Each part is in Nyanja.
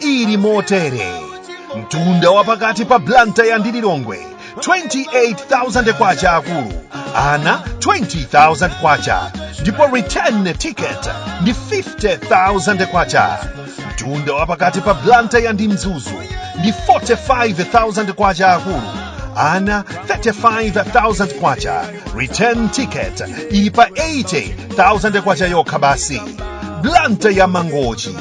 ili motere mtunda wa pakati pa blantyre ndi lilongwe 28000 kwacha akulu ana 20000 kwacha ndipo return ticket ndi 50000 kwacha mtunda wa pakati pa blantyre ndi mzuzu ndi 45000 kwacha akulu ana 35000 kwacha return ticket ili pa 80000 kwacha yokha basi blantyre mangochi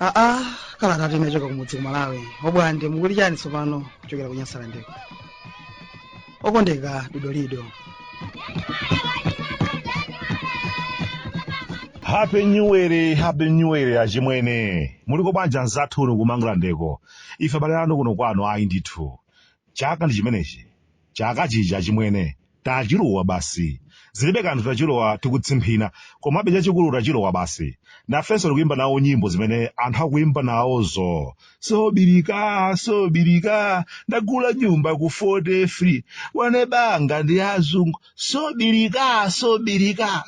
aa kalata tinachoka kumudzi ku malawi obwande mukuti chani tsopano kuchokera ku nyasalandeko okondeka dodolido happy new year happy new year achimwene muliko bwanji anzathu uno kumangalandeko ife abale anu kuno kwanu ayi ndithu chaka ndi chimenechi chaka chija achimwene tachilowa basi zilibe kanthu tachilowa tikutsimphina komabe chachikulu tachilowa basi nafenso tikuyimba nawo nyimbo zimene anthu akuyimba nawozo sobirika sobirika ndagula nyumba ku 40 free wane banga ndi azungu sobirika sobirika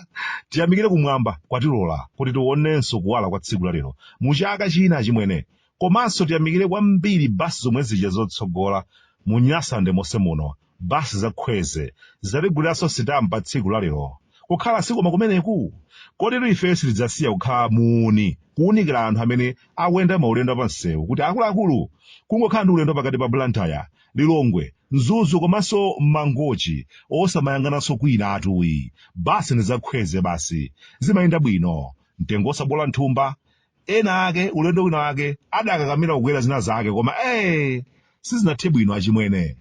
tiyamikire kumwamba kwatilola kuti tionenso kuwala kwa tsiku lalero mu chaka china achimwene komanso tiyamikire kwambiri basi zomwe zija zotsogola mu nyasalande monse muno Bus za Khweze zatiguliranso sitampa tsiku la lero. Kukhala sikoma kumeneku? Koditu ifeyo sitidzasiya kukhala muuni kuunikila anthu amene akuyenda maulendo apansewu kuti akuluakulu kungokhala ndi ulendo wa pakati pa Blantyre, Lilongwe, Mzuzu komanso Mangochi osamayang'ananso kwinatu ayi. Bus ndi za Khweze basi. Zimayenda bwino. Mtengo osaboola mthumba. ena ake ulendo wina wake adakakamira kukwera zina zake koma ee sizinathe bwino achimwene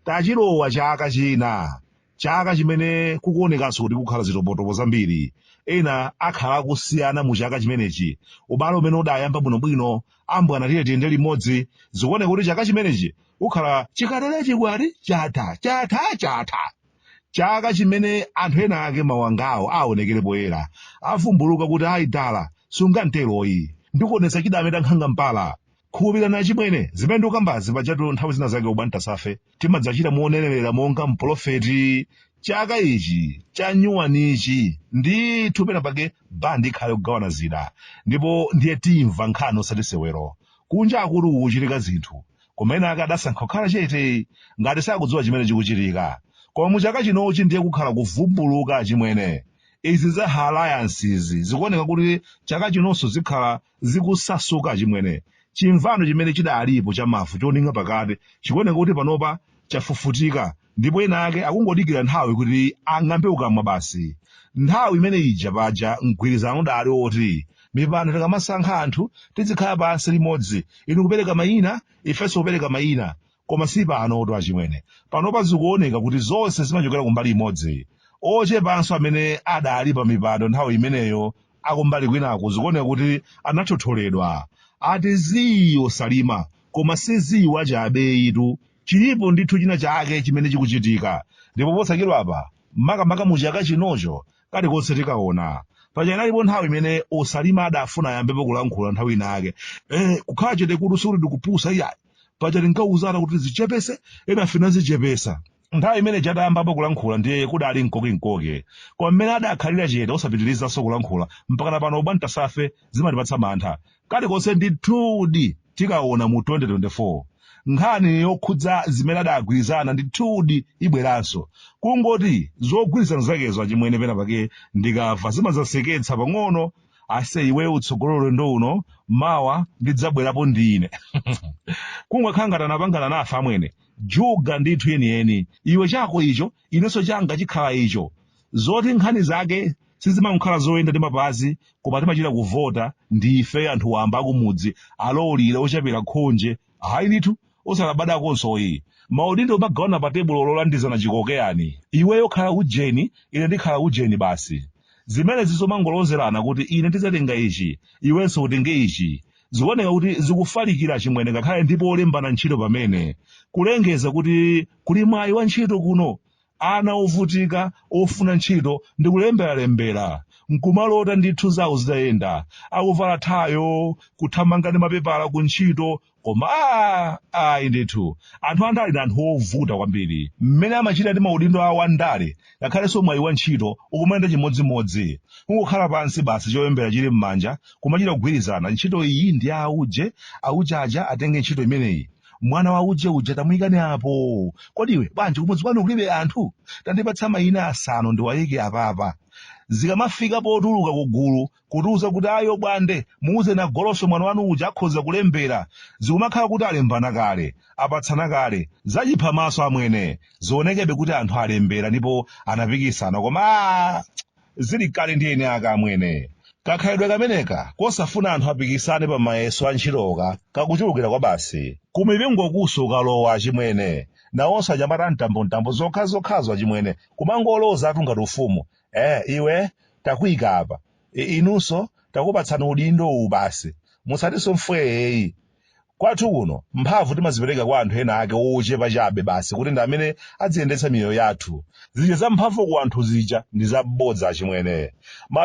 tachilowa chaka china chaka chimene kukuonekanso kuti kukhala zitopotopo zambiri ena akhala akusiyana mu chaka chimenechi ubale umene udayamba bwinobwino ambwana tiye tiyende limodzi zikuoneka kuti chaka chimenechi kukhala chikaterechi chikwati chatha chatha chatha chaka chimene anthu ena ake mawangawo aonekere poyera avumbuluka kuti ayi dala sunganteroyi ndikuonetsa chidameta nkhanga mpala khulupirani achimwene zimene ndikukambazi pajatu nthawi zina zake obwantasafe timadzachita monenera monga mpolofeti chaka ichi chanyuwanichi ndithu pena pake bandi ikhale kugawana zida ndipo ndiye timva nkhani osati sewero kunja akulu kuchitika zinthu koma ena ake adasankha kukhala chete ngati sakudziwa chimene chikuchitika koma mu chaka chinochi ndiye kukhala kuvumbuluka achimwene izi za alliance izi zikuoneka kuti chaka chinonso zikhala zikusasuka achimwene chimvano chimene chidalipo cha mavu choning'a pakati chikuoneka kuti panopa chafufutika ndipo ena ake akungodikira nthawi kuti ang'ambe kukamwa basi nthawi imene ija paja mgwirizano udali woti mipando tikamasankha anthu tizikhala pansi limodzi inu kupereka mayina ifenso kupereka mayina koma si panotu achimwene panopa zikuoneka kuti zonse zimachokera kumbali imodzi ochepanso amene adali pa mipando nthawi imeneyo akumbali kwinaku zikuoneka kuti anathotholedwa ati zii a Saulima koma si zii wa jabe itu chilipo ndithu china chake chimene chikuchitika ndipo posachedwa apa makamaka mu chaka chinocho kalikonse tikaona paja inalipo nthawi imene a Saulima adafuna ayambepo kulankhula nthawi inayake eh, kukhala chete kuti sikuti ndikupusa iyayi paja tinkauzana kuti zichepese ena sinazichepesa nthawi imene ija adayambapo kulankhula ndiye kudali mkokinkoke koma mmene adakhalira chete osapitirizanso kulankhula mpakana pano bwantasa ife zimatipatsa mantha kalikonse ndithudi tikaona mu 2024 nkhani yokhudza zimene adagwirizana ndithudi ibweranso kungoti zogwirizana zakezo achimwene pena pake ndikamva zimazaseketsa pang'ono ase iwe utsogole ulendo uno mawa ndidzabwerapo ndine kungokhala ngati anapangana na ife achimwene juga ndithu yeniyeni iwe chako icho inenso changa chikhala icho zoti nkhani zake sizimangokhala zoyenda ndi mapazi koma timachita kuvota ndi ife anthu wamba akumudzi olowulira ochapira khonje hayi ndithu osalabadakonso ayi maudindo kumagawana pa tebulo lolandizana chikokeyani iweyo khala ujeni ine ndikhala ujeni basi zimenezi zomangolozerana kuti ine ndidzatenga ichi iwenso utenge ichi zikuoneka kuti zikufalikira achimwene ngakhale ndi polembana ntchito pamene kulengeza kuti kuli mwayi wa ntchito kuno ana ovutika ofuna ntchito ndi kulemberalembera nkumalota ndithu zawo zitayenda akuvala thayo kuthamanga ndi mapepala ku ntchito koma a ayi ndithu anthu andale ndi anthu ovuta kwambiri mmene amachita ndi maudindo awo andale ngakhalenso mwayi wa ntchito ukumayenda chimodzimodzi kungokhala pansi basi cholembera chili m'manja kumachita kugwirizana ntchito iyi ndi ya auje auje aja atenge ntchito imeneyi mwana wa auje uja tamuyikani apo kodi iwe bwanji kumudzi kwanu kulibe anthu tandipatsa mayina asanu ndiwayike apapa zikamafika potuluka ku gulu kutiuza kuti ayi obwande muuzeni agoloswe mwana wanu uja akhoza kulembera zikumakhala kuti alembana kale apatsana kale zachiphamaso amwene zionekebe kuti anthu alembera ndipo anapikisana koma aa, zili kale ndi eni ake amwene kakhalidwe kameneka kosafuna anthu apikisane pa mayeso a ntchitoka kakuchulukira kwabasi kumipingokunso ukalowa achimwene nawonso anyamata mtambomtambo zokhazokhazo achimwene kumangolozatu ngati ufumu eh iwe takuika apa inunso takupatsani udindo uwu basi musatinso mfweeyi kwathu kuno mphamvu timazipereka kwa anthu ena ake ochepa chabe basi kuti ndi amene adziyendetsa miyoyo yathu zija za mphamvu ku anthu zija ndi zabodza achimwene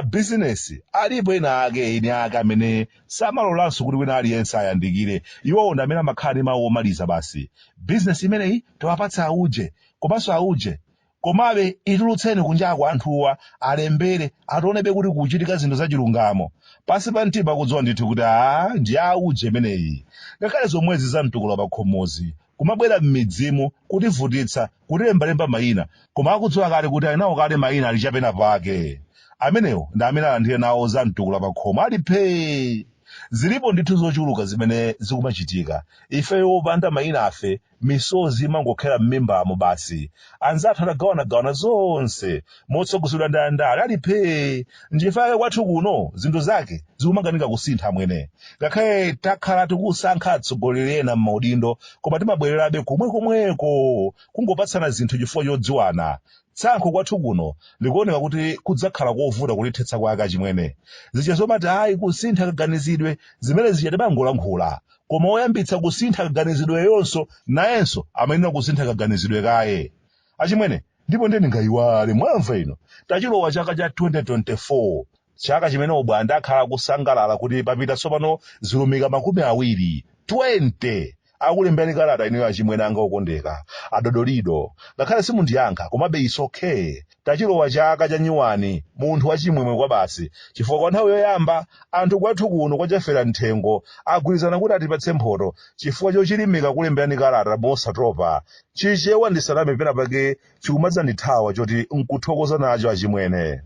mabizinesi alipo ena ake eni ake amene samalolanso kuti wina aliyense ayandikire iwowo ndi amene amakhala ndi mawu omaliza basi bizinesi imeneyi tiwapatse auje komanso auje Komabe itulutseni kunjako anthuwa alembere ationebe kuti kukuchitika zinthu zachilungamo. Pansi pa mtima akudziwa ndithu kuti aa ndi ya auje imeneyi. Ngakhale zomwezi za mtukula pakhomozi, kumabwera m'midzimu, kutivutitsa, kutilembalemba mayina, koma akudziwa kale kuti ali nawo kale mayina ali cha penapake. Amenewo ndi amene alandire nawo za mtukula pakhomo ali phee! Zilipo ndithu zochuluka zimene zikumachitika. Ifeyo opanda mayinafe misozi imangokhera m'mimbamo basi anzathu atagawanagawana zonse motsogozedwa ndi andale ali phee nchifukwa chake kwathu kuno zinthu zake zikumakanika kusintha amwene ngakhale takhala tikusankha atsogoleri ena m'maudindo koma timabwererabe komwekomweko kungopatsana zinthu chifukwa chodziwana tsankho kwathu kuno likuoneka kuti kudzakhala kovuta kulithetsa kwake achimwene zija zomati ayi kusintha kaganizidwe zimene zija timangolankhula koma woyambitsa kusintha kaganizidweyonso nayenso amayenera kusintha kaganizidwe kaye achimwene ndipo ndiye ndingayiwale mwamva ino tachilowa chaka cha 2024 chaka chimene obwande akhala akusangalala kuti papita tsopano zilumika makumi awiri 20 akulemberani kalata ineyo achimwene anga okondeka adodolido ngakhale simundiyankha komabe it's okay Tachilowa chaka cha nyuwani munthu wachimwemwe kwabasi chifukwa kwa nthawi yoyamba anthu kwathu kuno kwa Chafera Mthengo agwirizana kuti atipatse mphoto chifukwa chochilimika kulemberani kalata mosatopa. Chichewa ndisaname penapake chikumadzandithawa choti nkuthokoza nacho achimwene.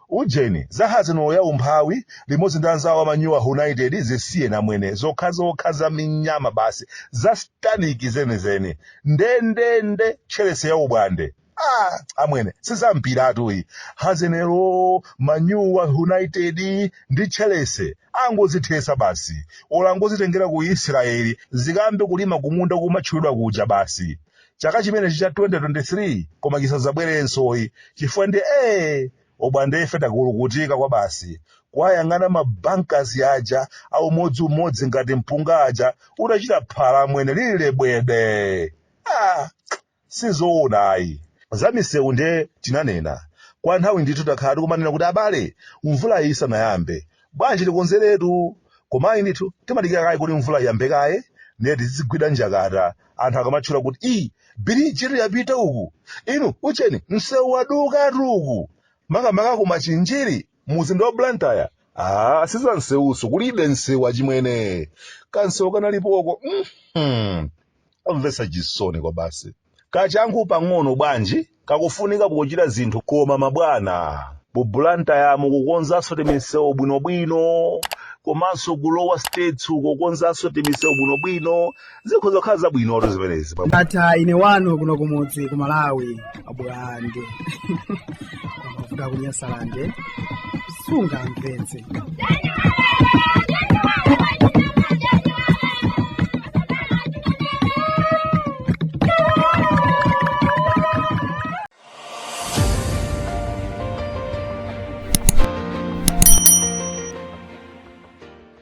Ujeni, za Arsenal ya umphawi limodzi ndi anzawo a Manyuwa United zisiyeni amwene, zokhazokha za minyama basi, za satanic zenizeni. Ndendende Chelsea ya obwande. ah amwene sizampiratu iyi hazenero manyuwa united ndi tcherese angozithesa basi ola angozitengera ku israeli zikambe kulima kumunda kumatchulidwa kuja basi chaka chimenechi cha 2023 koma chisadzabwerenso iyi chifukwa ndi ee abwandefe takulukutika kwa basi kuwayang'ana mabankas aja a umodzi umodzi ngati mpunga aja udachita phala amwene lili lebwede ah Sizoona ayi. Za misewu nde tinanena. Kwa nthawi ndithu takhala tikumanena kuti abale, mvulayi isanayambe, bwanji tikonzeretu. Koma ayi ndithu, timadikira kaye kuti mvula iyambe kaye, ndiye tizigwira njakata anthu akamatchula kuti ii, birijitu yapita uku! Inu, ucheni, msewu wadukatu uku! Makamaka ku Machinjiri! muzinda wa blantyre aa siza nsewuso kulibe nsewu achimwene kansewu kanalipoko mhm. komvesa chisoni kwa basi kachangu pang'ono bwanji kakufunika pochita zinthu koma mabwana mu Bulantayamu kukonzanso timisewu bwinobwino komanso kulowa states kukonzanso timisewu bwinobwino zikhoza kukhala zabwinotu zimenezi ndatha ine wanu kuno kumudzi ku malawi abwande a Futa kunyasalande sunga mpenzi